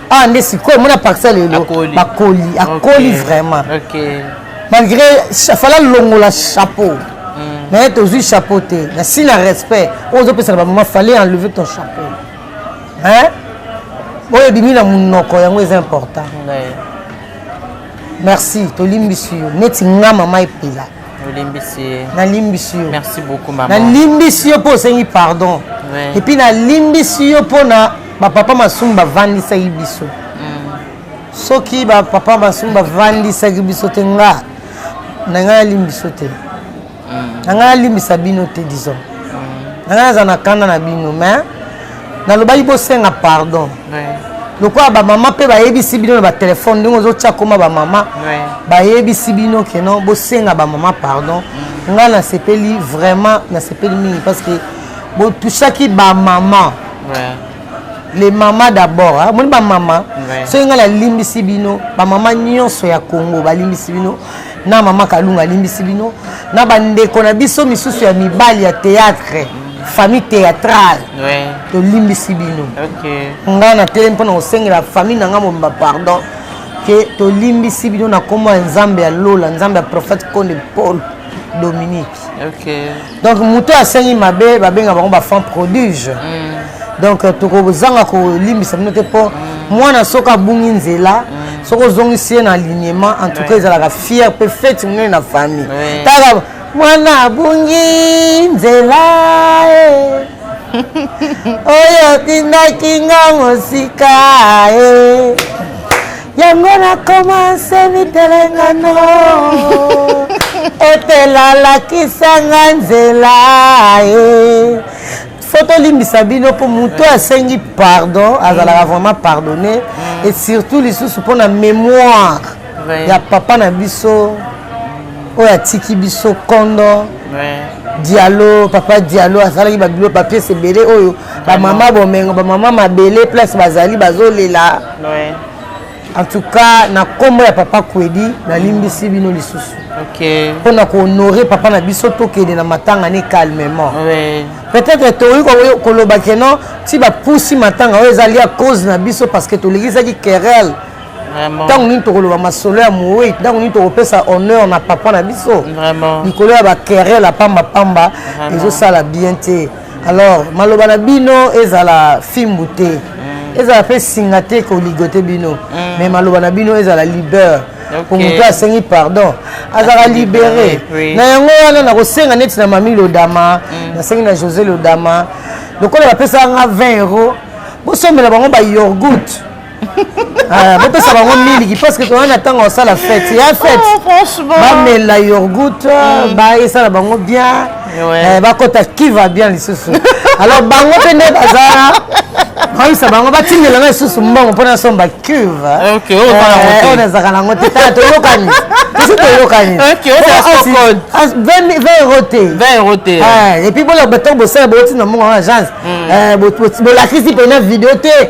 ah nde sikoyo omona parcelle lelo bakoli akoli vraiment malgré fala longola chapeau mm. mais tozwi chapeau te na si na respect oyo ozopesaka bamama fallait enlever ton chapeau hein oyo ebimi na monoko yango eza important merci tolimbisi yo neti nga mama epela olimbisi ye nalimbisi yo merci beaucoup mama nalimbisi yo mpo osengi pardon ouais. epuis nalimbisi yo mpo na bapapa masumu bavandisaki biso mm. soki bapapa masumu bavandisaki biso te nga na ngai nalimbisi yo te na ngai nalimbisa bino te disons na ngai naza na kanda na bino mais nalobaki bosenga pardon lokola bamama mpe bayebisi bino na batelefone ndenge ozotya koma bamama bayebisi bino keno bosenga bamama pardon mm. ngai nasepeli vraiment nasepeli mingi parce que botushaki bamama les mama d'abord amoni bamama soki ngai nalimbisi bino bamama nyonso ya congo balimbisi bino na mama kalunga alimbisi bino na bandeko na biso misusu ya mibali ya théâtre famille théâtrale ouais. tolimbisi bino okay. ngai natelemi mpo na kosengela famille na ngai mobimba pardon ke tolimbisi bino na nkombo ya nzambe ya lola nzambe ya prophète konde paul dominique okay. donc moto asengi mabe babenga bango bafan produge mm. donc euh, tokozanga kolimbisa bino te mpo mm. mwana soki abungi nzela mm. soki ozongisi ye na alignement en tout cas ezalaka fier mpe fete monene na famille taka mwana abungi nzela eh. oyo otindaki nga mosika eh. yango na komanse mitelengano etelalakisanga nzela e fo tolimbisa bino mpo moto oyo asengi pardon azalaka mm. vraiment pardonne mm. et surtout lisusu mpo na mémoire ya papa na biso oyo atiki biso kondo dialo papa dialo asalaki babilo papiers ebele oyo bamama bomengo bamama mabele place bazali bazolela Ouais. En tout cas, na kombo ya papa Kwedi, na limbisi bino lisusu. Okay. Mpo na ko honorer papa na biso tokende na matanga ne calmement. Ouais. Peut-être toyi ko koloba que non, ti ba pusi matanga oyo ezali à cause na biso parce que tolikisaki querelle. ntango nini tokoloba masolo ya moyi ntango nini tokopesa honneur na papa na biso likolo ya bakerele ya pambapamba ezosala bien te alors maloba na bino ezala fimbu te mm. ezala mpe singa te koligote bino mm. mais maloba na bino ezala libeur mpo moto asengi pardon azalaka libere na yango wana nakosenga neti na mami lodama mm. nasengi na josé lodama lokola bapesaka nga 20 euro bosombela bango bayorgout Ah, bopesa bango miliki parce que toza na ntango ya kosala fete ya oh, fete bamela yorgout mm. baesala bango bien eh, bakota kiva bien lisusu alors bango mpe nde bazala bayisa bango batindela nga lisusu mbongo mpo nasomba cuve eh, oyo nazalaka nango te tala toyokani biso toyokani 20 euro te epuis bolobata bosala bouti na mbongo ya agence bolakisi mpena video te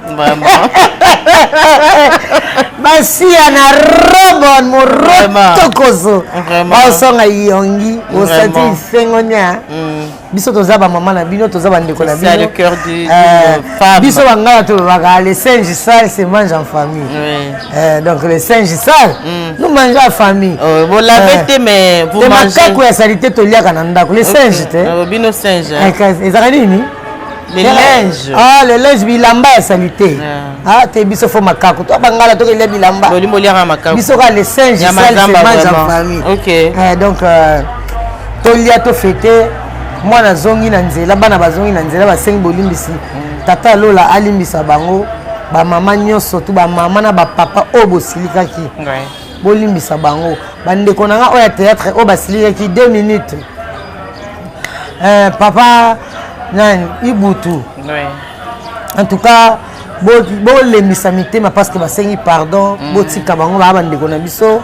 basiya na robon morotokoso baosonga yongi osati isengo nia mm. biso toza bamama na bino toza bandeko na bino euh, biso bangala tolobaka le singe sale se mange en famille euh, donc le singe sale mm. nous mange en famille oh, euh, te makako ya salite toliaka na ndako le singe te ezaka nini Les linges. Ah, les linges bilamba ya salite. Ah, ah te biso fo makako. To bangala to kelia bilamba. Boli boli ya makako. Biso ka les singes ya mazamba en famille. OK. Eh donc euh, to lia to fêter mwana azongi na nzela bana bazongi na nzela basengi bolimbisi mm. tata ya lola alimbisa bango bamama nyonso tu bamama na bapapa oyo bosilikaki bolimbisa bango bandeko na nga oyo ya théâtre oyo basilikaki 2 minutes euh, papa nani ibutu en tout cas bolembisa mitema parce que basengi pardon mm. botika bango baa bandeko na biso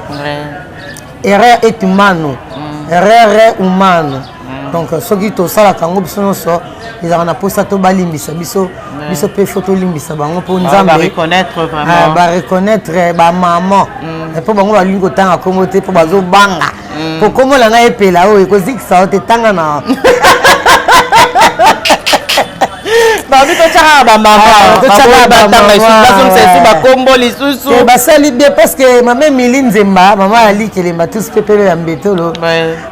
erreur est humano mm. erreur humano mm. donc soki tosalaka yango biso nyonso ezalaka na mposa to balimbisa biso biso mpe fo tolimbisa bango mpo nzambebareconnaitre ah, bamaman mpo bango balingi kotanga nkombo te mpo bazobanga mm. kokomola ngai epela oyo ekozikisa yo te tanga na babi totyaka bamamatotyakabatangaaazongisa ah, lisusu bakombo lisusu eh, basali bien parce que mama emili nzemba mama ali kelemba tous mpe pelo ya mbetolo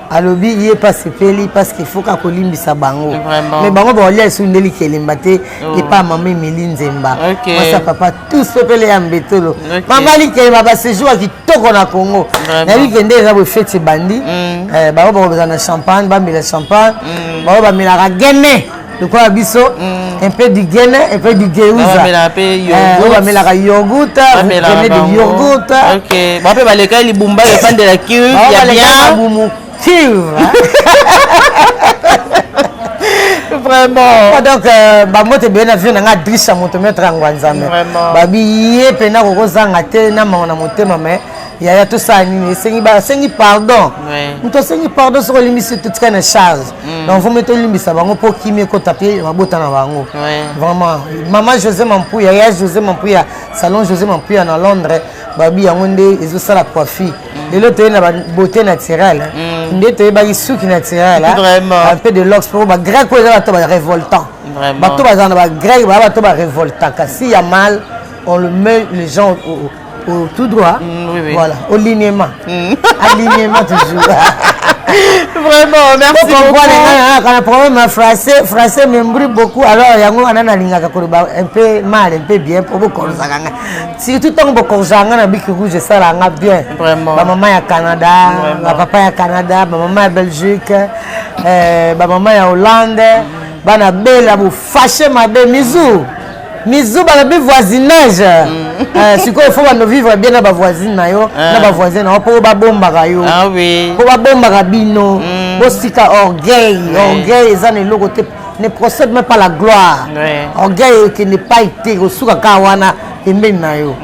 alobi ye mpe asepeli parce que faut kakolimbisa bango mais bango baolia lisusu nde likelemba te oh. epa mama emili nzemba masa papa tous mpe pele ya mbetolo mama likelemba basejour ya toko na congo nayebi kende eza boye feti ebandi mm. eh, bango bakobeza na champagne bamela champagne mm. bango bamelaka gene lokola biso mm. un peu du gene un peu du geuza oyo bamelaka yoguta gene du yoguta bape balekaki libumba efandela kiu ya bien vraiment oh, donc euh, bango te beye na vie na ngai adrisa moto metre yango ya nzambe babi ye mpena kokozanga te na mawa na motema mai yaya tosala nini esengi basengi pardon moto asengi pardon soki olimbisi totika na charge mm. donc vomi tolimbisa bango mpo kimi ekota mpe mabota na bango vraiment mama josé mampuya ya josé mampuya salon josé mampuya na londres babi yango nde ezosala coiffi lelo toye na beauté naturelle mm. nde toyebaki suki naturelle un peu de lox po bagrec oyo eza bato barevoltant bato bazala na bagrec baa bato barevoltant kasi ya mal on le met les gens au, au, au tout droit mm, oui, oui. voilà au lignement mm. alignement toujours vraiment merci bokomprenekana problème ya français français membri beaucoup alors yango wana nalingaka koloba un peu mal un peu bien mpo bokolosaka ngai surtout ntango bokonza nga na biki rouge esala nga bien bamama ya canada bapapa ya canada bamama ya belgique eh, bamama ya hollande bana bela bofashe mabe mizu mizu bana bi voisinage mm. eh, sikoyo fo bando vivre bien na bavoisine na yo ah. na bavoisin na yo mpo babombaka yo mpo ah babombaka bino mm. bosika orgueil orgueil eza na eloko te ne procède même pas la gloire orgueil ekende pai te kosuka kaka wana pembeni na yo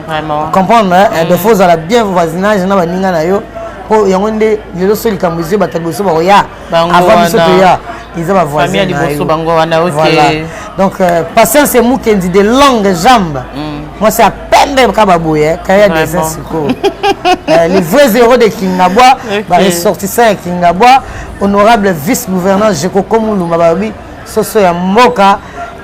comprendre eh, eh, mm. defo ozala bien voisinage na baninga na yo mpo yango nde lelo so likambo ezwi bato liboso bakoya avant biso toya eza bavoisin na yo voilà donc euh, patience emukendi de longue jambe mm. mwasi ya pembe kaka baboye kaya ya desin sikoyo euh, les vrais héros de kingabwa baressortissant ya kingabwa honorable vice gouverneur jekokomuluma balobi soso ya mboka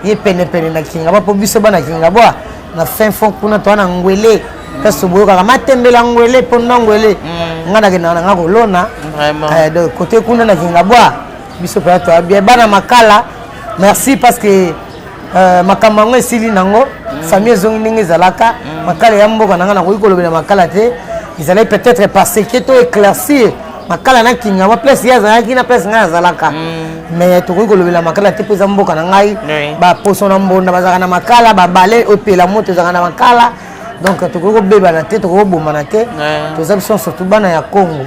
ye penepene na kingabwa mpo biso bana kingabwa na fin fond kuna toa na ngwele kasi boyokaka matembela ngwele mpo na ngwele mm. ngai nakendaka na ngai kolona eh, donc kote kuna na kingabwa biso mpenza toa bien bana makala merci parce que euh, makambo yango esili nango mm. famille ezongi ndenge ezalaka mm. makala ya mboka na ngai nakoki kolobela makala te ezalaki peut-être parce que to éclaircir makala na kingama place ye azalaki na place ngai azalaka mm. mais tokoki kolobela makala te mpo eza mboka na ngai baposo na mbonda bazalaka na makala babale opela moto ezalaka na makala donc tokoki kobebana te tokoki kobomana te toza biso surtout bana ya congo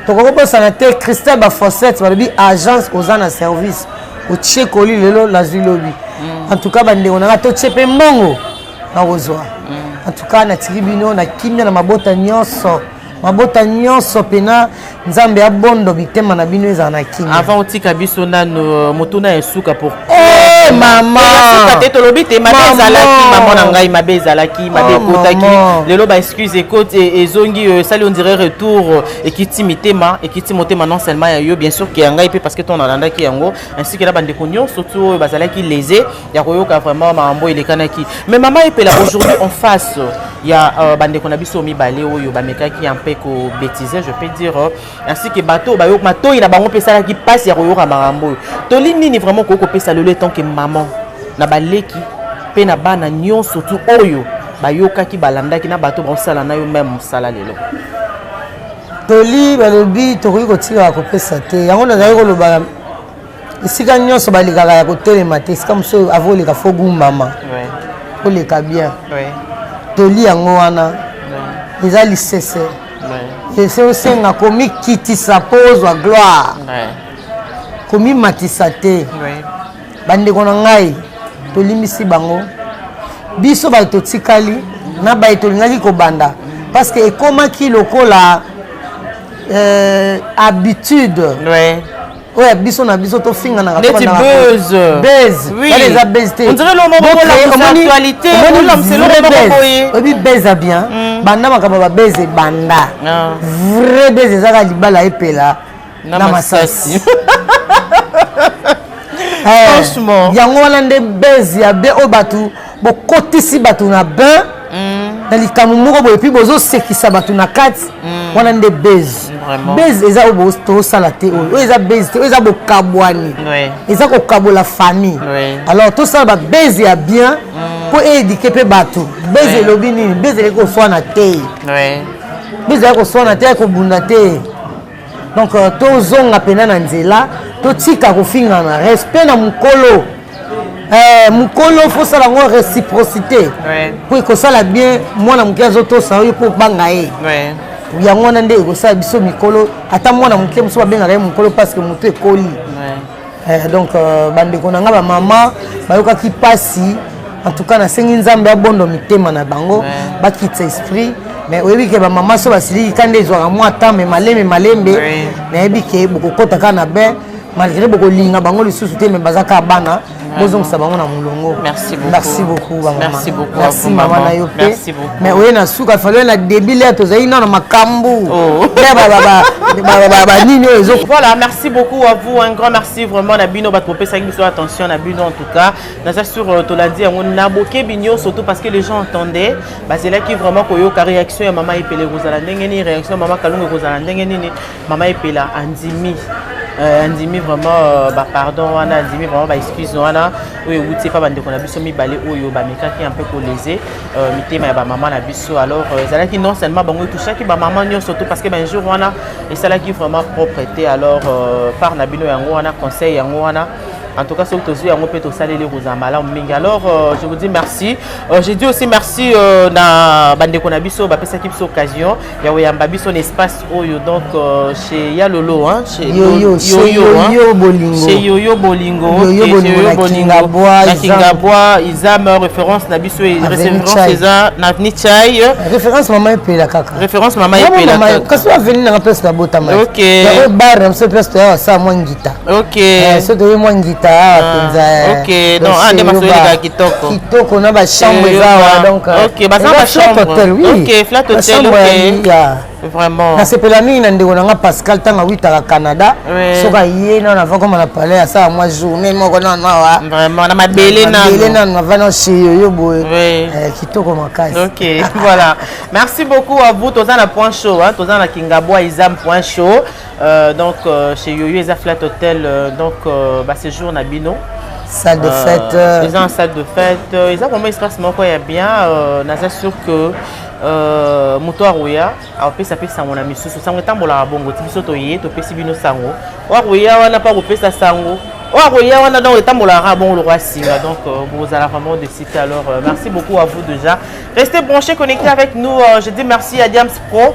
tokoki kobosana te christel baforsete balobi agence oza na service otie koli lelo nazwi lobi mm. en tout cas bandeko na ngai totie mpe mbongo nakozwa mm. en tout cas natiki bino na kimia na mabota nyonso mabota nyonso mpena nzambe ya bondo bitema na bino ezala na kimia avant otika biso nano euh, motuna ya suka pour eh, mama te tolobi te mabe ezalaki mama na ngai mabe ezalaki mabe oh, ekotaki lelo ba excuse ekoti e, ezongi euh, esali on dirait retour euh, ekiti mitema ekiti motema non seulement ya yo bien sûr ke ya ngai mpe parce que ton alandaki yango ainsi ke na bandeko nyonso ti oyo bazalaki lese ya koyoka vraiment mambo elekanaki mais mama epela aujourd'hui en face ya uh, bandeko na biso mibale oyo bamekaki ya mpe kobetize je peux dire euh, ainsi que bato bayo matoi na bango mpe esalaki mpasi ya koyoka makambo oyo toli nini vraiment okoki kopesa lelo etant que maman na baleki mpe na bana nyonso tu oyo bayokaki balandaki na bato baosala na yo meme mosala lelo toli balobi tokoki kotika kopesa te yango nazali koloba esika nyonso balekaka ya kotelema te esika mosusu avo oleka fo gumbama oleka bien toli yango wana eza lisese ese osenga komikitisa mpo ozwa gloire komimatisa te bandeko na ngai tolimbisi bango biso baye totikali na baye tolingaki kobanda parce que ekomaki lokola euh, habitude ouais. oyo ya biso na biso tofinganaka neti buzz buzz oui. bale eza buzz te on dirait l'homme bola la actualité on l'a c'est l'homme moko boye obi buzz bien mm. banda makaba ba buzz banda ah. vrai buzz ezaka libala epela na masasi eh, franchement yango wana nde buzz ya be o batu bokotisi bato na bain mm. na likambo moko boye puis bozosekisa bato na kati mm. wana nde base base eza oyo tosala te oyo oyo eza base te oyo eza bokabwani eza kokabola famille alors tosala babase ya bien mm. mpo eedike mpe bato base elobi nini base eleki koswana te base eleki koswana te ekobunda te donc euh, tozonga mpena na nzela totika kofingana respect na mokolo eh, mokolo fosala yango réciprocité mpo ekosala bien mwana moke azotosa yo mpo obanga ye yango wana nde ekosala biso mikolo ata mwana moke mosusu babengaka ye mokolo parce que motu ekoli Eh, donc euh, bandeko na nga bamama bayokaki mpasi en tout cas nasengi nzambe abondo mitema na bango bakitisa esprit mais oyebi ke bamama so basiliki ka nde ezwaka mwa temps me malembe malembe nayebi ke bokokota kaka na bain malgré bokolinga bango lisusu te me baza kaka bana bozongisa bango na molongo merci beaucoup bamama merci mama na yo mpe mais oye na suka faloye na début lea tozali nano makambu oh. banini oyo ezo voilà merci beaucoup à vous un grand merci vraiment na bino bato bopesaki biso attention na bino en tout cas naza sur euh, tolandi yango na bokebi nyonso surtout parce que les gens entendaient bazelaki vraiment koyoka réaction ya mama epele ekozala ndenge nini réaction ya mama kalungu ekozala ndenge nini Mama Epela andimi euh, andimi vraiment euh, ba pardon wana andimi vraiment ba excuse wana oyo ewuti epa bandeko na biso mibale oyo bamekaki un peu kolese euh, mitema ya bamama na biso alors ezalaki non seulement bango etouchaki bamama nyonso to parce que banjour wana esalaki vraiment propre te alors part na bino yango wana conseil yango wana En tout cas, ce que tu as fait, tu as fait les Alors, euh, je vous dis merci. Euh, je dis aussi merci à euh, Bande Konabiso, qui a cette occasion. ya oyamba biso na espace oyo donc euh, chez ya lolo hein chez yoyo yoyo bolingo chez yoyo bolingo yoyo bolingo na kingabwa na kingabwa izam référence na biso référence eza na nichai référence maman epela kaka référence maman epela kaka kasi aveni na place na botama ok ya bar na biso place ya sa mwa ngita Eh, soki toye mwa ngita awa ah, mpenza eh. ah, kitoko na bachambre eza awa doncnasepela euh, mingi na ndeko na nga pascal ntango awitaka canada soki aye nano avakoma na palais asala mwa journée moko nano awa mabele nano avana seyoyo boye eh, kitoko makasi merci beaucoup à vous toza na point chaud toza na kingabwa izam point chaud Euh, donc euh, chez Yoyo eza flat hotel euh, donc euh, ba séjour na bino salle de fête euh, eza en salle de fête euh, eza vraiment espace moko ya bien euh, naza sûr que euh, moto akoya apesa mpe sango na misusu sango etambolaka bongo ti biso toye topesi bino sango oyo akoya wana mpe akopesa sango oyo akoya wana donc etambolaka bongo lokola singa donc euh, bozala vraiment de site alors euh, merci beaucoup à vous déjà restez branché connecté avec nous euh, je dis merci à diams pro